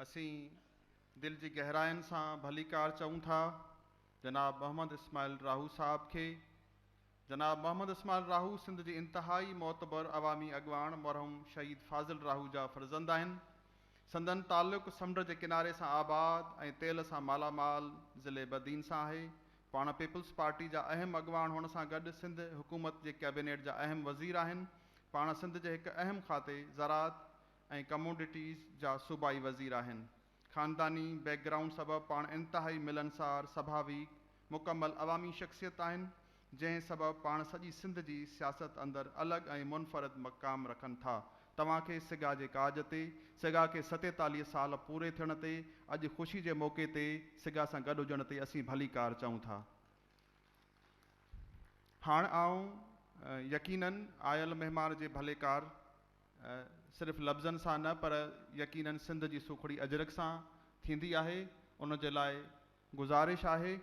اسين دل جي گهراين سان ڀليڪار چئون ٿا جناب محمد اسماعيل راهو صاحب کي. جناب محمد اسماعيل راهو سنڌ جي انتهائي معتبر عوامي اڳواڻ مرحوم شهيد فاضل راهو جا فرزند آهن. سندن تعلق سمنڊ جي ڪناري سان آباد ۽ تيل سان مالا مال ضلعي بدين سان آهي. پاڻ پيپلز پارٽي جا اهم اڳواڻ هئڻ سان گڏ سنڌ حڪومت جي ڪيبينيٽ جا اهم وزير آهن. پاڻ سنڌ جي هڪ اهم کاتي زراعت ۽ ڪموڊٽيز جا صوبائي وزير آهن. خانداني بيڪ گرائونڊ سبب پاڻ انتهائي ملنسار، سڀاويڪ، مڪمل عوامي شخصيت آهن، جنهن سبب پاڻ سڄي سنڌ جي سياست اندر الڳ ۽ منفرد مقام رکن ٿا. توهان کي سگا جي ڪاڄ تي، سگا کي ستيتاليهه سال پوري ٿيڻ تي، اڄ خوشي جي موقعي تي سگا سان گڏ هجڻ تي اسين ڀليڪار چئون ٿا. هاڻ آئون يقينن آيل مهمان جي ڀليڪار صرف لفظن سان نه پر يقينن سنڌ جي سوکڙي اجرڪ سان ٿيندي آهي ان جي لاء گذارش آهي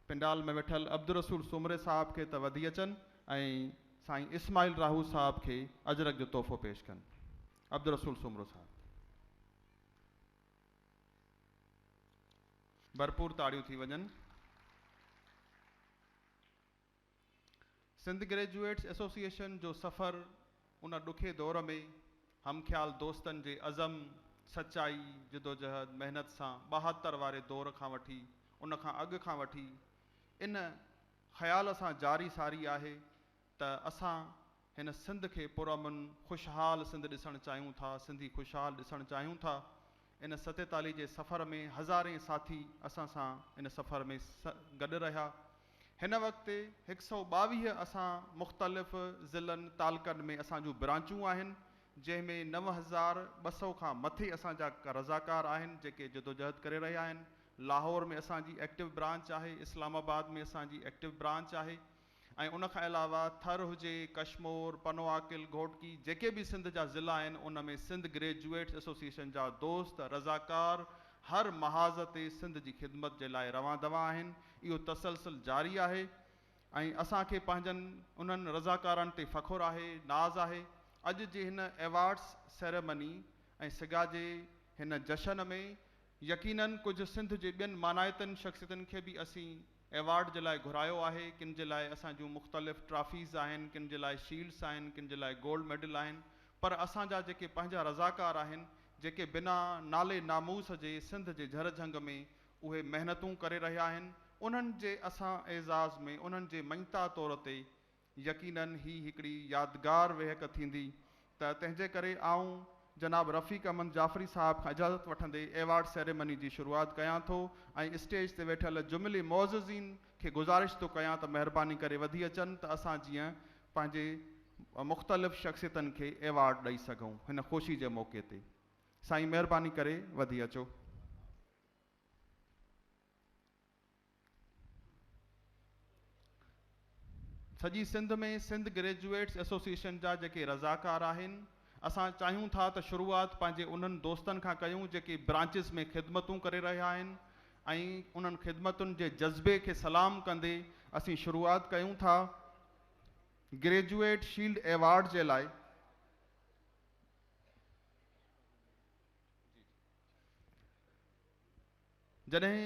پنڊال ۾ ويٺل عبدالرسول سومري صاحب کي ته وڌي اچن ۽ سائين اسماعيل راهو صاحب کي اجرڪ جو تحفو پيش ڪن عبدالرسول سومرو صاحب ڀرپور تاڙيون ٿي وڃن. سنڌ گريجوئيٽس ايسوسيئيشن جو سفر ان ڏکي دور ۾ هم خيال دوستن جي عزم، سچائي، جدوجهد، محنت سان ٻاهتر واري دور کان وٺي ان کان اڳ کان وٺي ان خيال سان جاري ساري آهي ته اسان هن سنڌ کي پرامن خوشحال سنڌ ڏسڻ چاهيون ٿا سنڌي خوشحال ڏسڻ چاهيون ٿا ان ستيتالي جي سفر ۾ هزارين ساٿي اسان سان ان سفر ۾ گڏ رهيا هن وقت هڪ سؤ ٻاويهه اسان مختلف ضلعن تعلقن ۾ اسان جون برانچون آهن جنهن ۾ نو هزار ٻه سؤ کان مٿي اسان جا رضاڪار آهن جيڪي جدوجهد ڪري رهيا آهن لاهور ۾ اسان جي ايڪٽو برانچ آهي اسلام آباد ۾ اسان جي ايڪٽو برانچ آهي ۽ ان کان علاوه ٿر هجي، ڪشمور، پنوعاقل، گهوٽڪي جيڪي به سنڌ جا ضلع آهن ان ۾ سنڌ گريجوئيٽس ايسوسيئيشن جا دوست رضاڪار هر محاذ تي سنڌ جي خدمت جي لاء روان دوان آهن اهو تسلسل جاري آهي ۽ اسان کي پنهنجن انهن رضاڪارن تي فخر آهي ناز آهي اڄ جي هن ايوارڊس سيريمني ۽ سگا جي هن جشن ۾ يقينن ڪجهه سنڌ جي ٻين مانائتن شخصيتن کي به اسين ايوارڊ جي لاء گهرايو آهي، ڪن جي لاء اسان جون مختلف ٽرافيز آهن، ڪن جي لاء شيلڊز آهن، ڪن جي لاء گولڊ ميڊل آهن، پر اسان جا جيڪي پنهنجا رضاڪار آهن، جيڪي بنا نالي ناموس جي سنڌ جي جهر جهنگ ۾ اهي محنتون ڪري رهيا آهن، انهن جي اسان اعزاز ۾ انهن جي مڃتا طور تي يقيناً هي هڪڙي يادگار ويهڪ ٿيندي ته تنهنجي ڪري آئون جناب رفيق احمد جعفري صاحب کان اجازت وٺندي ايوارڊ سيريمني جي شروعات ڪيان ٿو ۽ اسٽيج تي ويٺل جملي معززين کي گذارش ٿو ڪيان ته مهرباني ڪري وڌي اچن ته اسان جيئن پنهنجي مختلف شخصيتن کي ايوارڊ ڏئي سگهون هن خوشي جي موقعي تي سائين مهرباني ڪري وڌي اچو. سڄي سنڌ ۾ سنڌ گريجوئيٽس ايسوسيئيشن جا جيڪي رضاڪار آهن اسان چاهيون ٿا ته شروعات پنهنجي انهن دوستن کان ڪيون جيڪي برانچز ۾ خدمتون ڪري رهيا آهن ۽ انهن خدمتن جي جذبي کي سلام ڪندي اسين شروعات ڪيون ٿا گريجوئيٽ شيلڊ ايوارڊ جي لاء جڏهن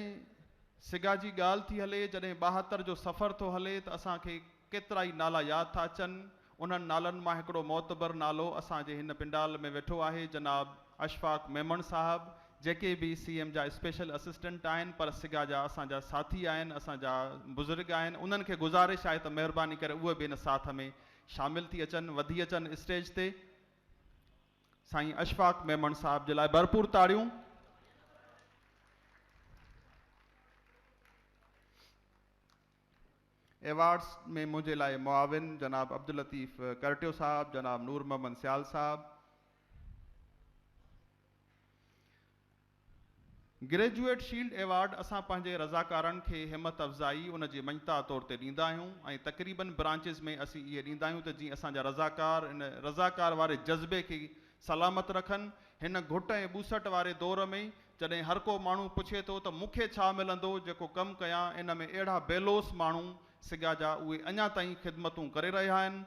سگا جي ڳالهه ٿي هلي، جڏهن ٻاهتر جو سفر ٿو هلي ته اسان کي ڪيترائي نالا ياد ٿا اچن، انهن نالن مان هڪڙو معتبر نالو اسان جي هن پنڊال ۾ ويٺو آهي جناب اشفاق ميمڻ صاحب، جيڪي به سي ايم جا اسپيشل اسسٽنٽ آهن پر سگا جا اسان جا ساٿي آهن، اسان جا بزرگ آهن، انهن کي گذارش آهي ته مهرباني ڪري اهي به ان ساٿ ۾ شامل ٿي اچن، وڌي اچن اسٽيج تي. سائين اشفاق ميمڻ صاحب جي لاء ڀرپور تاڙيون. ايوارڊز ۾ منهنجي لاء معاون جناب عبداللطيف ڪرٽيو صاحب، جناب نور محمد سيال صاحب، گريجوئيٽ شيلڊ ايوارڊ اسان پنهنجي رضاڪارن کي همٿ افزائي ان جي مڃتا طور تي ڏيندا آهيون ۽ تقريبن برانچز ۾ اسين اهي ڏيندا آهيون ته جيئن اسان جا رضاڪار ان رضاڪار واري جذبي کي سلامت رکن هن گهٽ ۽ ٻوسٽ واري دور ۾ جڏهن هرڪو ماڻهو پڇي ٿو ته مون کي ڇا ملندو جيڪو ڪم ڪيان ان ۾ اهڙا بيلوس ماڻهو سگا جا اهي اڃا تائين خدمتون ڪري رهيا آهن.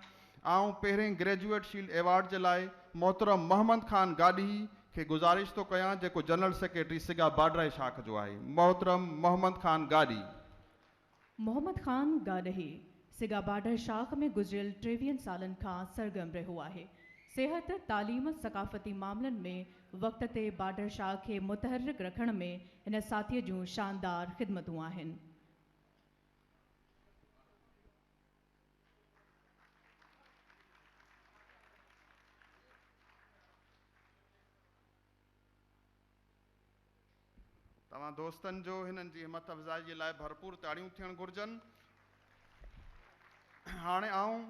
آئون پهرين گريجوئيٽ شيلڊ ايوارڊ جي لاء محترم محمد خان گاڏهي کي گذارش ٿو ڪيان جيڪو جنرل سيڪريٽري سگا باڊرائي شاخ جو آهي محترم محمد خان گاڏهي. محمد خان گاڏهي سگا باڊر شاخ ۾ گذريل ٽيويهن سالن کان سرگرم رهيو آهي. صحت، تعليم، ثقافتي معاملن ۾ وقت تي باڊر شاخ کي متحرڪ رکڻ ۾ هن ساٿي جون شاندار خدمتون آهن. توهان دوستن جو هنن جي همٿ افزائي جي لاء ڀرپور تاڙيون ٿيڻ گهرجن. هاڻي آئون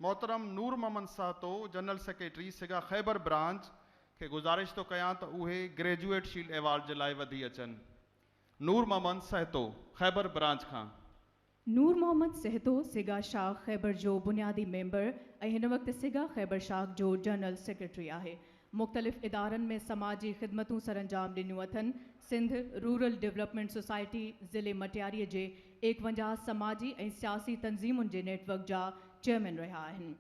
محترم Noor Muhammad Sahito general secretary SAGA Khyber branch کي گذارش ٿو ڪيان ته اهي گريجوئيٽ شيلڊ ايوارڊ جي لاء وڌي اچن. نور محمد سهتو خيبر برانچ کان. نور محمد سهتو سگا شاخ خيبر جو بنيادي ميمبر ۽ هن وقت سگا خيبر شاخ جو جنرل سيڪريٽري آهي. مختلف ادارن ۾ سماجي خدمتون سرانجام ڏنيون اٿن. سنڌ رورل ڊولپمينٽ سوسائٽي ضلعي مٽياري جي ايڪونجاهه سماجي ۽ سياسي تنظيمن جي نيٽ ورڪ جا چيئرمين رهيا آهن.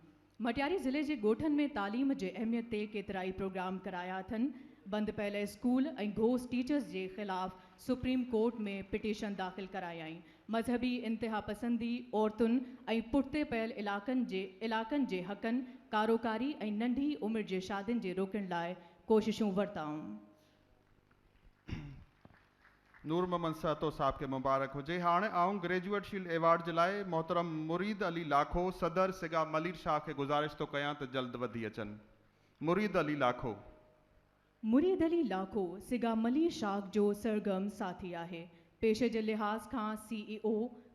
مٽياري ضلعي جي ڳوٺن ۾ تعليم جي اهميت تي ڪيترائي پروگرام ڪرايا اٿن، بند پيل اسڪول ۽ گهوس ٽيچرز جي خلاف سپريم ڪورٽ ۾ پٽيشن داخل ڪرايائين، مذهبي انتهاپسندي، عورتن ۽ پٺتي پيل علائقن جي علائقن جي حقن، ڪاروڪاري ۽ ننڍي عمر جي شادين جي روڪڻ لاء ڪوششون ورتائون. نور محمد سهتو صاحب کي مبارڪ هجي. هاڻ آئون گريجوئيٽ شيلڊ ايوارڊ جي لاء محترم مريد علي لاکو صدر سگا ملير شاهه کي گذارش ٿو ڪيان ته جلد وڌي اچن. مريد علي لاکو. مريد علي لاکو سگا ملير شاهه جو سرگرم ساٿي آهي. پيشي جي لحاظ کان C E O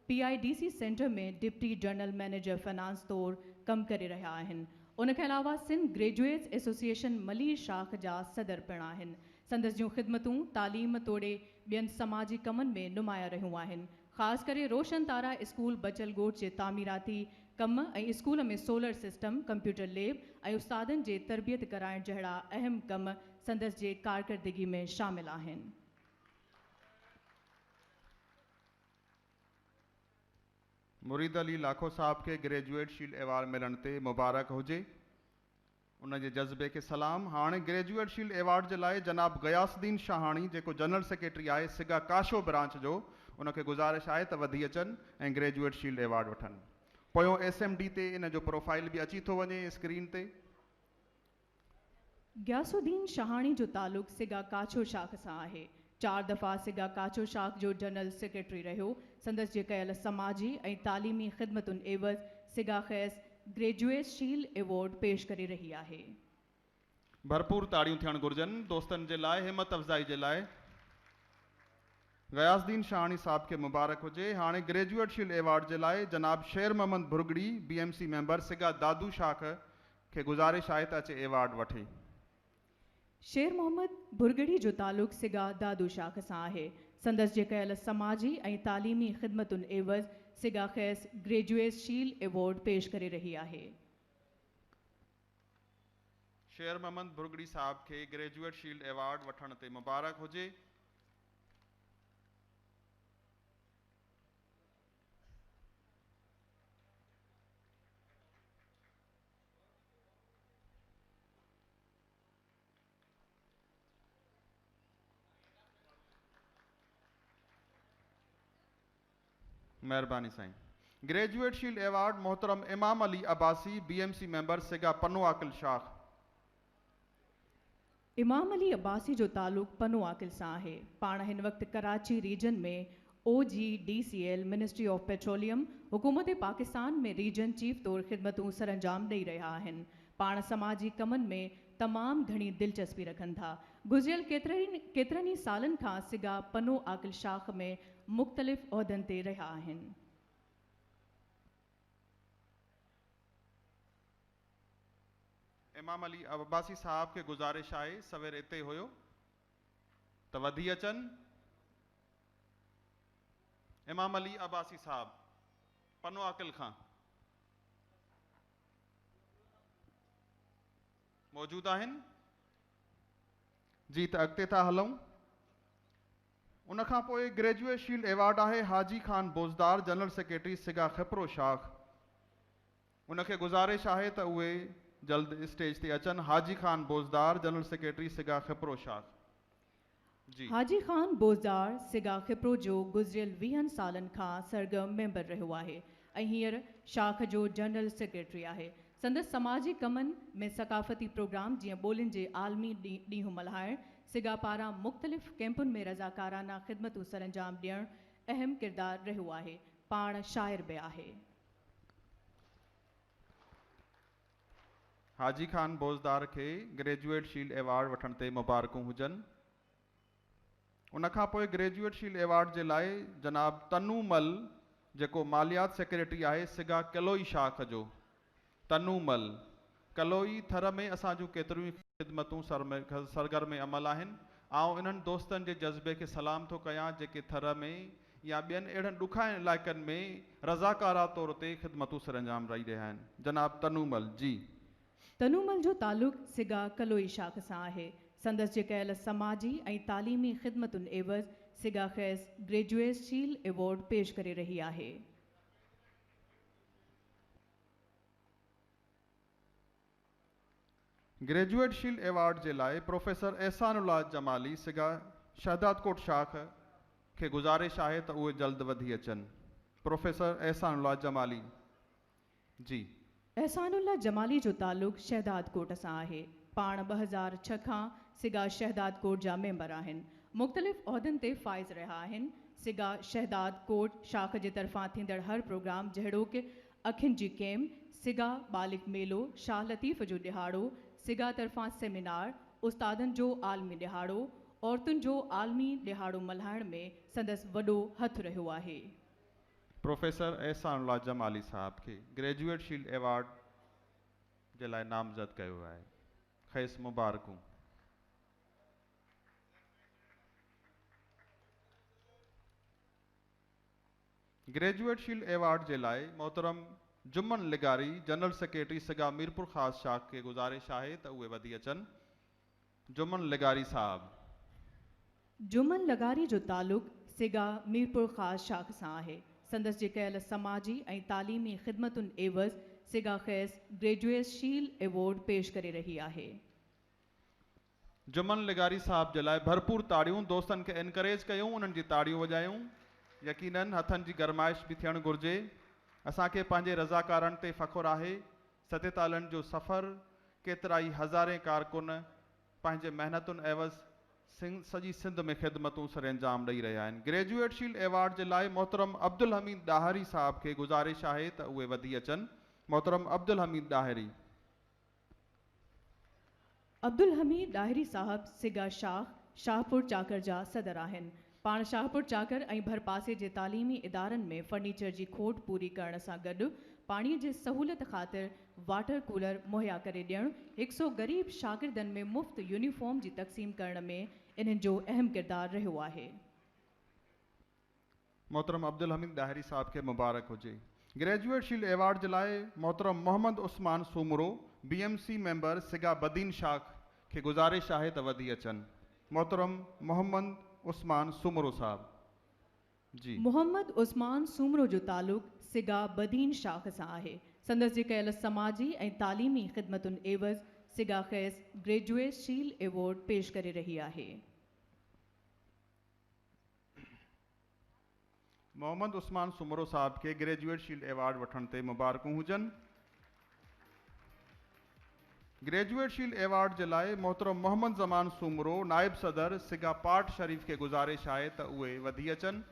P I D C centre ۾ deputy general manager finance طور ڪم ڪري رهيا آهن. ان کان علاوه سنڌ گريجوئيٽس ايسوسيئيشن ملير شاخ جا صدر پڻ آهن. سندس جون خدمتون تعليم توڙي ٻين سماجي ڪمن ۾ نمايان رهيون آهن. خاص ڪري روشن تارا اسڪول بچل ڳوٺ جي تعميراتي ڪم ۽ school ۾ solar system, computer lab ۽ استادن جي تربيت ڪرائڻ جهڙا اهم ڪم سندس جي ڪارڪردگي ۾ شامل آهن. مريد علي لاکو صاحب کي گريجوئيٽ شيلڊ ايوارڊ ملڻ تي مبارڪ هجي. ان جي جذبي کي سلام. هاڻ گريجوئيٽ شيلڊ ايوارڊ جي لاء جناب غياث الدين شاهاڻي جيڪو جنرل سيڪريٽري آهي سگا ڪاشو برانچ جو ان کي گذارش آهي ته وڌي اچن ۽ گريجوئيٽ شيلڊ ايوارڊ وٺن پويون ايس ايم ڊي تي ان جو پروفائيل به اچي ٿو وڃي اسڪرين تي. غياث الدين شاهاڻي جو تعلق سگا ڪاڇو شاخ سان آهي چار دفعا سگا ڪاڇو شاخ جو جنرل سيڪريٽري رهيو. سندس جي ڪيل سماجي ۽ تعليمي خدمتن عيوض سگا کيس گريجوئيس شيل ايوارڊ پيش ڪري رهي آهي. ڀرپور تاڙيون ٿيڻ گهرجن دوستن جي لاء همت افزائي جي لاء. غياث الدين شاهاڻي صاحب کي مبارڪ هجي هاڻي گريجوئيٽ شيل ايوارڊ جي لاء جناب Sher Muhammad Bhurgri B M C member SAGA Dadu شاخ کي گذارش آهي ته اچي ايوارڊ وٺي. شير محمد ڀرڳڙي جو تعلق سگا دادو شاخ سان آهي. سندس جي ڪيل سماجي ۽ تعليمي خدمتن عيوض سگا کيس گريجوئيس شيل ايوارڊ پيش ڪري رهي آهي. شير محمد ڀرڳڙي صاحب کي گريجوئيٽ شيلڊ ايوارڊ وٺڻ تي مبارڪ هجي. مهرباني سائين. گريجوئيٽ شيلڊ ايوارڊ محترم Imam Ali Abbasi B M C member SAGA Pano عاقل شاخ. امام علي عباسي جو تعلق پنو عاقل سان آهي. پاڻ هن وقت Karachi region ۾ O G D C L, ministry of petroleum, حڪومت پاڪستان ۾ ريجن چيف طور خدمتون سرانجام ڏئي رهيا آهن. پاڻ سماجي ڪمن ۾ تمام گهڻي دلچسپي رکن ٿا. گذريل ڪيترن ئي سالن کان سگا پنو عاقل شاخ ۾ مختلف عهدن تي رهيا آهن. امام علي عباسي صاحب کي گذارش آهي سوير اتي هيو ته وڌي اچن. امام علي عباسي صاحب پنو عاقل کان موجود آهن جي ته اڳتي ٿا هلون. ان کان پوء گريجوئيٽ شيلڊ ايوارڊ آهي حاجي خان بوزدار جنرل سيڪريٽري سگا خپرو شاخ ان کي گذارش آهي ته اهي جلد اسٽيج تي اچن حاجي خان بوزدار جنرل سيڪريٽري سگا خپرو شاخ جي. حاجي خان بوزدار سگا خپرو جو گذريل ويهن سالن کان سرگرم ميمبر رهيو آهي ۽ هينئر شاخ جو جنرل سيڪريٽري آهي سندس سماجي ڪمن ۾ ثقافتي پروگرام جيئن ٻولين جي عالمي ڏينهن ملهائڻ، سگا پاران مختلف ڪئمپن ۾ رضاڪارانه خدمتون سرانجام ڏيڻ اهم ڪردار رهيو آهي. پاڻ شاعر به آهي. حاجي خان بوزدار کي گريجوئيٽ شيلڊ ايوارڊ وٺڻ تي مبارڪون هجن. ان کان پوء گريجوئيٽ شيلڊ ايوارڊ جي لاء جناب تنو مل جيڪو ماليات سيڪريٽري آهي سگا ڪلوئي شاخ جو تنو مل ڪلوئي ٿر ۾ اسان جون ڪيتريون ئي خدمتون سرگرم عمل آهن آئون انهن دوستن جي جذبي کي سلام ٿو ڪيان جيڪي ٿر ۾ يا ٻين اهڙن ڏکاين علائقن ۾ رضاڪارا طور تي خدمتون سرانجام رئي رهيا آهن جناب تنو مل جي تنومل جو تعلق سگا ڪلوئي شاخ سان آهي. سندس جي ڪيل سماجي ۽ تعليمي خدمتن عيوض سگا کيس گريجوئيس شيل ايوارڊ پيش ڪري رهي آهي. گريجوئيٽ شيلڊ ايوارڊ جي لاء پروفيسر احسان الله جمالي سگا شهدادڪوٽ شاخ کي گذارش آهي ته اهي جلد وڌي اچن پروفيسر احسان الله جمالي. جي. احسان الله جمالي جو تعلق شهدادڪوٽ سان آهي. پاڻ ٻه هزار ڇهه کان سگا شهدادڪوٽ جا ميمبر آهن. مختلف عهدن تي فائز رهيا آهن. سگا شهداد ڪوٽ شاخ جي طرفان ٿيندڙ هر پروگرام جهڙوڪ، اکين جي ڪيم، سگا ٻالڪ ميلو، شاهه لطيف جو ڏهاڙو، سگا طرفان سيمينار، استادن جو عالمي ڏهاڙو، عورتن جو عالمي ڏهاڙو ملهائڻ ۾ سندس وڏو هٿ رهيو آهي. پروفيسر احسان الله جمالي صاحب کي گريجوئيٽ شيلڊ ايوارڊ جي لاء نامزد ڪيو ويو آهي، کيس مبارڪون. گريجوئيٽ شيلڊ ايوارڊ جي لاء محترم جمن لغاري جنرل سيڪريٽري سگا ميرپورخاص شاخ کي گذارش آهي ته اهي وڌي اچن. جمن لغاري صاحب. جمن لغاري جو تعلق سگا ميرپورخاص شاخ سان آهي. سندس جي ڪيل سماجي ۽ تعليمي خدمتن عيوض سگا کيس گريجوئيس شيل ايوارڊ پيش ڪري رهي آهي. جمن لغاري صاحب جي لاء ڀرپور تاڙيون دوستن کي انڪريج ڪيون انهن جي تاڙيون وڄايون يقينن هٿن جي گرمائش به ٿيڻ گهرجي اسان کي پنهنجي رضاڪارن تي فخر آهي ستيتالن جو سفر، ڪيترائي هزارين ڪارڪن پنهنجي محنتن عيوض سڄي سنڌ ۾ خدمتون سرانجام ڏئي رهيا آهن. گريجوئيٽ شيلڊ ايوارڊ جي لاء محترم عبدالحميد ڏاهري صاحب کي گذارش آهي ته اهي وڌي اچن. محترم عبدالحميد ڏاهري. عبدالحميد ڏاهري صاحب سگا شاخ شاهپور چاڪر جا صدر آهن. پاڻ شاهپور چاڪر ۽ ڀرپاسي جي تعليمي ادارن ۾ فرنيچر جي کوٽ پوري ڪرڻ سان گڏ پاڻي جي سهولت خاطر واٽر ڪولر مهيا ڪري ڏيڻ، هڪ سو غريب شاگردن ۾ مفت يونيفارم جي تقسيم ڪرڻ ۾ انهن جو اهم ڪردار رهيو آهي. محترم عبدالحميد ڏاهري صاحب کي مبارڪ هجي. گريجوئيٽ شيلڊ ايوارڊ جي لاء محترم Muhammad Usman Soomro, B M C member SAGA Badin شاخ کي گذارش آهي ته وڌي اچن. محترم محمد عثمان سومرو صاحب جي. محمد عثمان سومرو جو تعلق سگا بدين شاخ سان آهي. سندس جي ڪيل سماجي ۽ تعليمي خدمتن عيوض سگا کيس گريجوئيٽ شيلڊ ايوارڊ پيش ڪري رهي آهي. محمد عثمان سومرو صاحب کي گريجوئيٽ شيلڊ ايوارڊ وٺڻ تي مبارڪون هجن. گريجوئيٽ شيلڊ ايوارڊ جي لاء محترم محمد زمان سومرو نائب صدر سگا پارٽ شريف کي گذارش آهي ته اهي وڌي اچن.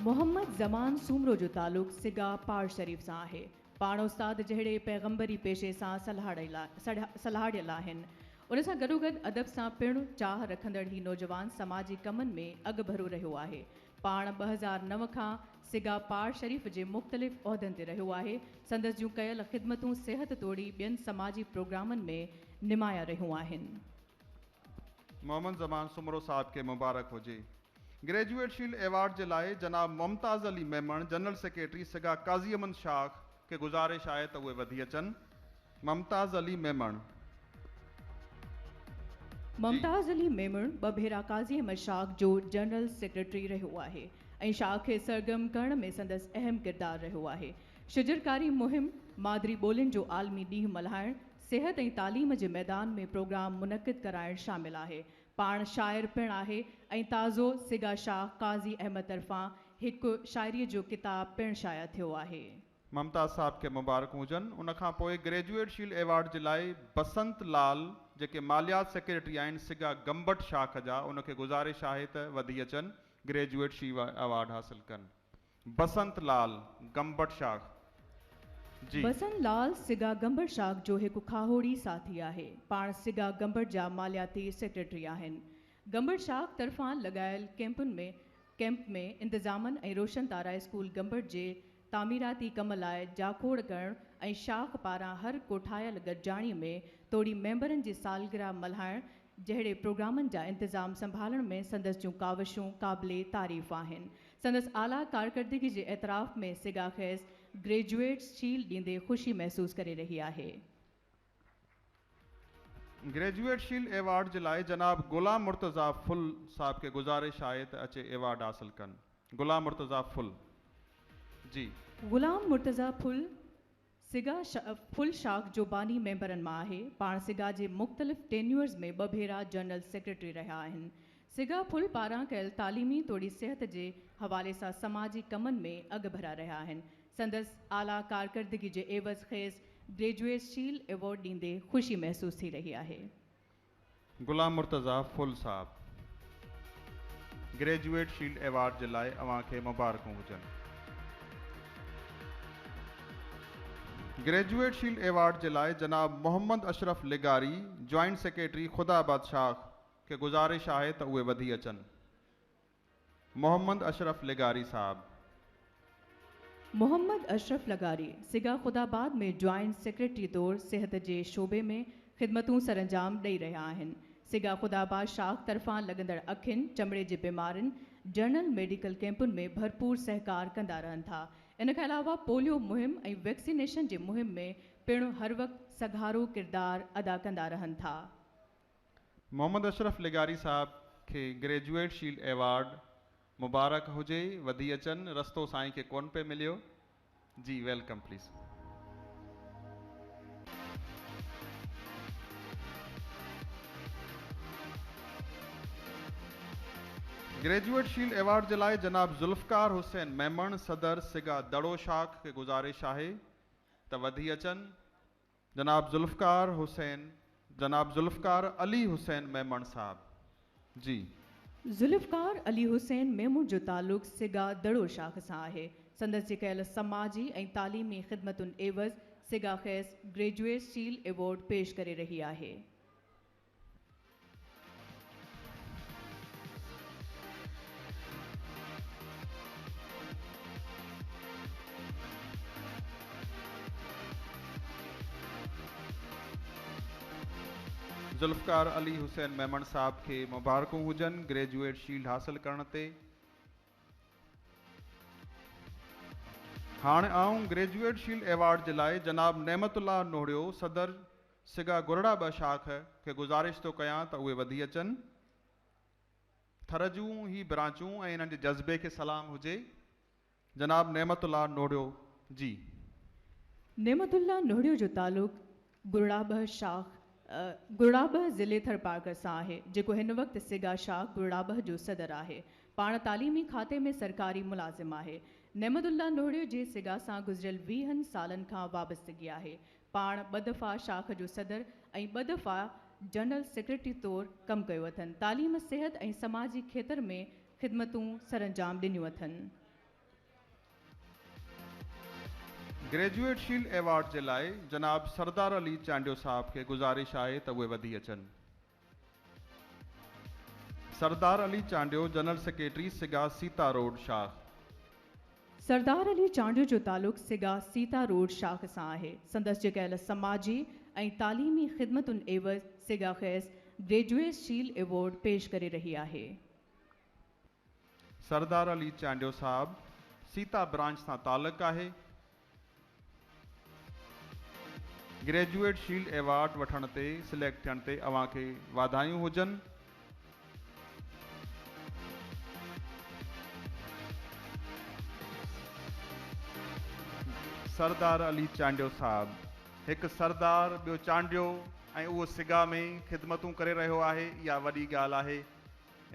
محمد زمان سومرو جو تعلق سگا پاڙ شريف سان آهي. پاڻ استاد جهڙي پيغمبري پيشي سان سلهاڙيل آهن. ان سان گڏوگڏ ادب سان پڻ چاهه رکندڙ هي نوجوان سماجي ڪمن ۾ اڳڀرو رهيو آهي. پاڻ ٻه هزار نو کان سگا پاڙ شريف جي مختلف عهدن تي رهيو آهي. سندس جون ڪيل خدمتون صحت توڙي ٻين سماجي پروگرامن ۾ نمايان رهيون آهن. محمد زمان سومرو صاحب کي مبارڪ هجي. گريجوئيٽ شيلڊ ايوارڊ جي لاء جناب ممتاز علي ميمڻ جنرل سيڪريٽري سگا قاضي احمد شاخ کي گذارش آهي ته اهي وڌي اچن. ممتاز علي ميمڻ. جي. ممتاز علي ميمڻ ٻه ڀيرا قاضي احمد شاخ جو جنرل سيڪريٽري رهيو آهي ۽ شاخ کي سرگرم ڪرڻ ۾ سندس اهم ڪردار رهيو آهي. شجرڪاري مهم، مادري ٻولين جو عالمي ڏينهن ملهائڻ، صحت ۽ تعليم جي ميدان ۾ پروگرام منعقد ڪرائڻ شامل آهي. پاڻ شاعر پڻ آهي ۽ تازو سگا شاهه قاضي احمد طرفان هڪ شاعريء جو ڪتاب پڻ شايع ٿيو آهي. ممتاز صاحب کي مبارڪون هجن. ان کان پوء گريجوئيٽ شيلڊ ايوارڊ جي لاء بسنت لال جيڪي ماليات سيڪريٽري آهن سگا گمبٽ شاخ جا ان کي گذارش آهي ته وڌي اچن گريجوئيٽ شيوڊ ايوارڊ حاصل ڪن. بسنت لعل گمبٽ شاخ جي. بسنت لعل سگا گمبٽ شاخ جو هڪ کاهوڙي ساٿي آهي. پاڻ سگا گمبٽ جا مالياتي سيڪريٽري آهن. گمبٽ شاخ طرفان لڳايل ڪئمپن ۾ ڪئمپ ۾ انتظامن ۽ روشن تارا اسڪول گمبٽ جي تعميراتي ڪم لاء جاکوڙ ڪرڻ ۽ شاخ پاران هر ڪوٺايل گڏجاڻي ۾ توڙي ميمبرن جي سالگرهه ملهائڻ جهڙي پروگرامن جا انتظام سنڀالڻ ۾ سندس جون ڪاوشون قابل تعريف آهن. سندس اعليٰ ڪارڪردگي جي اعتراف ۾ سگا کيس گريجوئيٽس شيلڊ ڏيندي خوشي محسوس ڪري رهي آهي. گريجوئيٽ شيلڊ ايوارڊ جي لاء جناب غلام مرتضيٰ ڦل صاحب کي گذارش آهي ته اچي ايوارڊ حاصل ڪن. غلام مرتضيٰ ڦل جي. غلام مرتضيٰ ڦل سگا فل شاخ جو باني ميمبرن مان آهي. پاڻ سگا جي مختلف ٽينيورز ۾ ٻه ڀيرا جنرل سيڪريٽري رهيا آهن. سگا فل پاران ڪيل تعليمي توڙي صحت جي حوالي سان سماجي ڪمن ۾ اڳڀرا رهيا آهن. سندس اعليٰ ڪارڪردگي جي عيوض کيس گريجوئيس شيلڊ ايوارڊ ڏيندي خوشي محسوس ٿي رهي آهي. غلام مرتضيٰ ڦل صاحب گريجوئيٽ شيلڊ ايوارڊ جي لاء اوهان کي مبارڪون هجن. گريجوئيٽ شيلڊ ايوارڊ جي لاء جناب محمد اشرف لغاري جوائنٽ سيڪريٽري خدا آباد شاخ کي گذارش آهي ته اهي وڌي اچن. محمد اشرف لغاري صاحب. محمد اشرف لغاري سگا خداآباد ۾ جوائنٽ سيڪريٽري طور صحت جي شعبي ۾ خدمتون سرانجام ڏئي رهيا آهن. سگا خداآباد شاخ طرفان لڳندڙ اکين، چمڙي جي بيمارين، جنرل ميڊيڪل ڪيمپن ۾ ڀرپور سهڪار ڪندا رهن ٿا. ان کان علاوه پوليو مهم ۽ ويڪسينيشن جي مهم ۾ پڻ هر وقت سگهارو ڪردار ادا ڪندا رهن ٿا. محمد اشرف لغاري صاحب کي گريجوئيٽ شيلڊ ايوارڊ مبارڪ هجي وڌي اچن رستو سائين کي ڪون پئي مليو جي welcome please. Graduate shield award جي لاء جناب ذوالفقار حسين ميمڻ صدر سگا دڙو شاخ کي گذارش آهي ته وڌي اچن. جناب ذوالفقار حسين جناب ذوالفقار علي حسين ميمڻ صاحب جي. ذوالفقار علي حسين ميمڻ جو تعلق سگا دڙو شاخ سان آهي. سندس جي ڪيل سماجي ۽ تعليمي خدمتن عيوض سگا کيس گريجوئيٽ سيل ايوارڊ پيش ڪري رهي آهي. ذوالفقار علي حسين ميمڻ صاحب کي مبارڪون هجن گريجوئيٽ شيلڊ حاصل ڪرڻ تي هاڻ آئون گريجوئيٽ شيلڊ ايوارڊ جي لاء جناب نعمت الله نوڙيو صدر سگا گرڙا ٻه شاخ کي گذارش ٿو ڪيان ته اهي وڌي اچن. ٿر جون هي برانچون ۽ انهن جي جذبي کي سلام هجي. جناب نعمت الله نوڙيو جي. نعمت الله نوڙيو جو تعلق گرڙا ٻه شاخ، گرڙا ٻه ضلعي ٿرپارڪر سان آهي، جيڪو هن وقت سگا شاخ گرڙا ٻه جو صدر آهي. پاڻ تعليمي کاتي ۾ سرڪاري ملازم آهي. نعمت الله نوڙيو جي سگا سان گذريل ويهن سالن کان وابستگي آهي. پاڻ ٻه دفعا شاخ جو صدر ۽ ٻه دفعا جنرل سيڪريٽري طور ڪم ڪيو اٿن. تعليم، صحت ۽ سماجي کيتر ۾ خدمتون سرانجام ڏنيون اٿن. گريجوئيٽ شيلڊ ايوارڊ جي لاء جناب سردار علي چانڊيو صاحب کي گذارش آهي ته اهي وڌي اچن. Sardar Ali Chandio general secretary SAGA Sita road شاخ. سردار علي چانڊيو جو تعلق سگا سيتا روڊ شاخ سان آهي. سندس جي ڪيل سماجي ۽ تعليمي خدمتن عيوض سگا کيس گريجوئيس شيل ايوارڊ پيش ڪري رهي آهي. سردار علي چانڊيو صاحب سيتا برانچ سان تعلق آهي. گريجوئيٽ شيلڊ ايوارڊ وٺڻ تي سليڪٽ ٿيڻ تي اوهان کي واڌايون هجن. سردار علي چانڊيو صاحب هڪ سردار ٻيو چانڊيو ۽ اهو سگا ۾ خدمتون ڪري رهيو آهي اها وڏي ڳالهه آهي.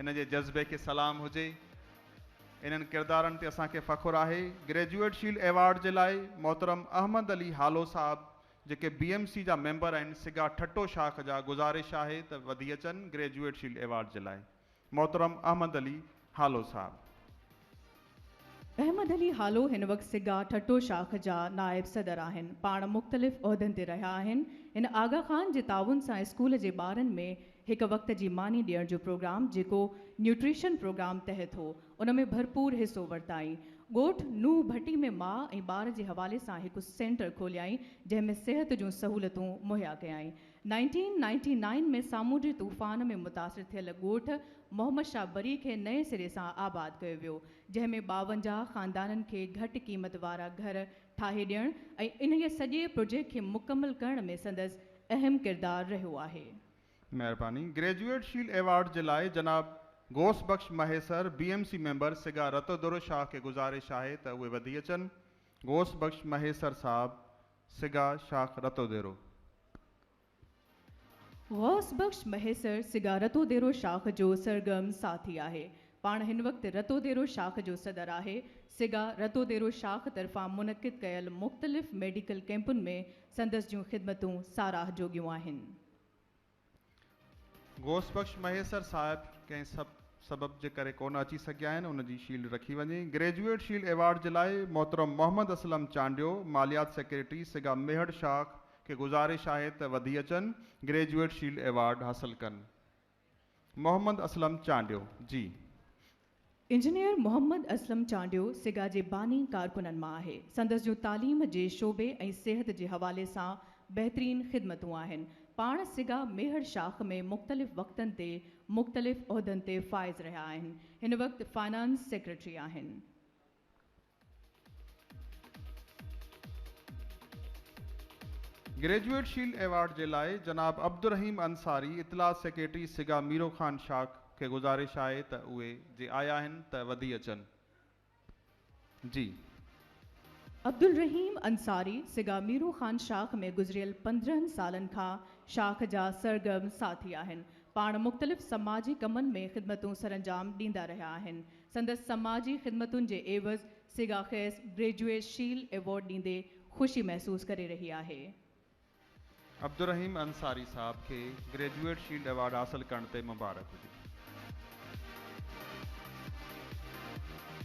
ان جي جذبي کي سلام هجي. انهن ڪردارن تي اسان کي فخر آهي. گريجوئيٽ شيلڊ ايوارڊ جي لاء محترم احمد علي هالو صاحب جيڪي بي ايم سي جا ميمبر آهن سگا ٺٽو شاخ جا گذارش آهي ته وڌي اچن گريجوئيٽ شيلڊ ايوارڊ جي لاء محترم احمد علي هالو صاحب. احمد علي هالو هن وقت سگا ٺٽو شاخ جا نائب صدر آهن. پاڻ مختلف عهدن تي رهيا آهن. هن آغا خان جي تعاون سان اسڪول جي ٻارن ۾ هڪ وقت جي ماني ڏيڻ جو پروگرام جيڪو نيوٽريشن پروگرام تحت هو ان ۾ ڀرپور حصو ورتائين. ڳوٺ نوح ڀٽي ۾ ماء ۽ ٻار جي حوالي سان هڪ سينٽر کوليائين جنهن ۾ صحت جون سهولتون مهيا ڪيائين. نائنٽين نائنٽي نائن ۾ سامونڊي طوفان ۾ متاثر ٿيل ڳوٺ محمد شاهه بري کي نئين سري سان آباد ڪيو ويو، جنهن ۾ ٻاونجاهه خاندانن کي گهٽ قيمت وارا گهر ٺاهي ڏيڻ ۽ انهيء سڄي پروجيڪٽ کي مڪمل ڪرڻ ۾ سندس اهم ڪردار رهيو آهي. مهرباني. گريجوئيٽ شيلڊ ايوارڊ جي لاء جناب Ghous Bux Mahesar B M C member SAGA Ratodero Shah کي گذارش آهي ته اهي وڌي اچن. غوث بخش مهيسر صاحب سگا شاخ رتو ديرو. غوث بخش مهيسر سگا رتو ديرو شاخ جو سرگرم ساٿي آهي. پاڻ هن وقت رتو ديرو شاخ جو صدر آهي. سگا رتو ديرو شاخ طرفان منعقد ڪيل مختلف ميڊيڪل ڪئمپن ۾ سندس جون خدمتون ساراهه جوڳيون آهن. غوث بخش مهيسر صاحب ڪنهن سبب جي ڪري ڪونه اچي سگهيا آهن ان جي شيلڊ رکي وڃي گريجوئيٽ شيلڊ ايوارڊ جي لاء محترم محمد اسلم چانڊيو ماليات سيڪريٽري سگا ميهڙ شاخ کي گذارش آهي ته وڌي اچن گريجوئيٽ شيلڊ ايوارڊ حاصل ڪن محمد اسلم چانڊيو جي انجنيئر محمد اسلم چانڊيو سگا جي باني ڪارڪنن مان آهي. سندس جون تعليم جي شعبي ۽ صحت جي حوالي سان بهترين خدمتون آهن. پاڻ سگا ميهڙ شاخ ۾ مختلف وقتن تي مختلف عهدن تي فائز رهيا آهن. هن وقت فنانس سيڪريٽري آهن. گريجوئيٽ شيلڊ ايوارڊ جي لاء جناب عبدالرحيم انصاري اطلاعات سيڪريٽري سگا ميرو خان شاخ کي گذارش آهي ته اهي جي آيا آهن ته وڌي اچن جي. عبدالرحيم انصاري سگا ميرو خان شاخ ۾ گذريل پندرهن سالن کان شاخ جا سرگرم ساٿي آهن پاڻ مختلف سماجي ڪمن ۾ خدمتون سرانجام ڏيندا رهيا آهن سندس سماجي خدمتن جي عيوض سگا کيس بريجويس شيلڊ ايوارڊ ڏيندي خوشي محسوس ڪري رهي آهي. عبدالرحيم انصاري صاحب کي گريجوئيٽ شيلڊ ايوارڊ حاصل ڪرڻ تي مبارڪ هجي.